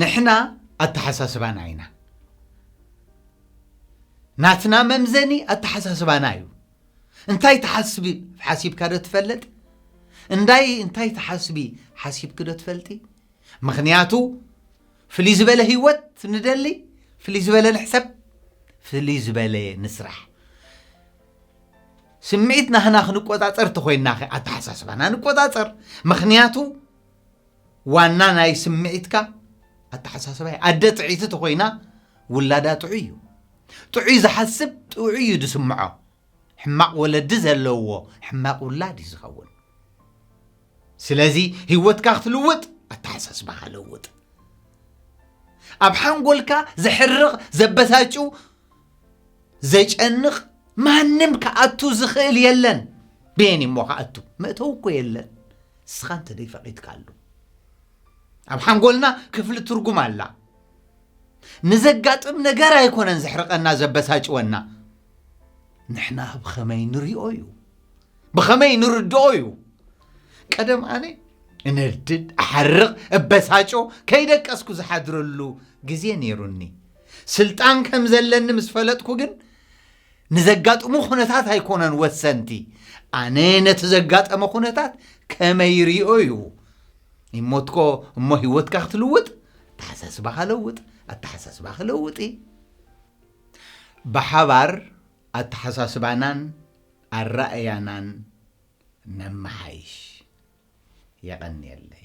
ንሕና ኣተሓሳስባና ኢና ናትና መምዘኒ ኣተሓሳስባና እዩ እንታይ ትሓስቢ ሓሲብካ ዶ ትፈልጥ እንዳይ እንታይ ትሓስቢ ሓሲብኪ ዶ ትፈልጢ ምክንያቱ ፍልይ ዝበለ ህይወት ንደሊ፣ ፍልይ ዝበለ ንሕሰብ፣ ፍልይ ዝበለ ንስራሕ። ስምዒት ናህና ክንቆጻጸር ተኾይናኸ ኣተሓሳስባና ንቆጻጸር። ምኽንያቱ ዋና ናይ ስምዒትካ ኣተሓሳስባ እዩ። ኣደ ጥዕይቲ ተኾይና ውላዳ ጥዑይ እዩ። ጥዑይ ዝሓስብ ጥዑይ እዩ ዝስምዖ። ሕማቕ ወለዲ ዘለዎ ሕማቕ ውላድ እዩ ዝኸውን። ስለዚ ህይወትካ ክትልውጥ ኣተሓሳስባኻ ለውጥ ኣብ ሓንጎልካ ዘሕርቕ ዘበሳጩ ዘጨንቕ ማንም ክኣቱ ዝኽእል የለን ቤን እሞ ክኣቱ መእተው እኮ የለን ንስኻ እንተ ደይፈቒድካ ኣሉ ኣብ ሓንጎልና ክፍሊ ትርጉም ኣላ ንዘጋጥም ነገር ኣይኮነን ዘሕርቐና ዘበሳጭወና ንሕና ብኸመይ ንሪኦ እዩ ብኸመይ ንርድኦ እዩ ቀደም ኣነ እነድድ ኣሓርቕ እበሳጮ ከይደቀስኩ ዝሓድረሉ ግዜ ነይሩኒ ስልጣን ከም ዘለኒ ምስ ፈለጥኩ ግን ንዘጋጥሙ ኩነታት ኣይኮነን ወሰንቲ ኣነ ነቲ ዘጋጠመ ኩነታት ከመይ ርኦ እዩ ይሞትኮ እሞ ህይወትካ ክትልውጥ ኣተሓሳስባኻ ለውጥ ኣተሓሳስባኺ ለውጢ ብሓባር ኣተሓሳስባናን ኣራእያናን ነመሓይሽ። የቐንየለይ።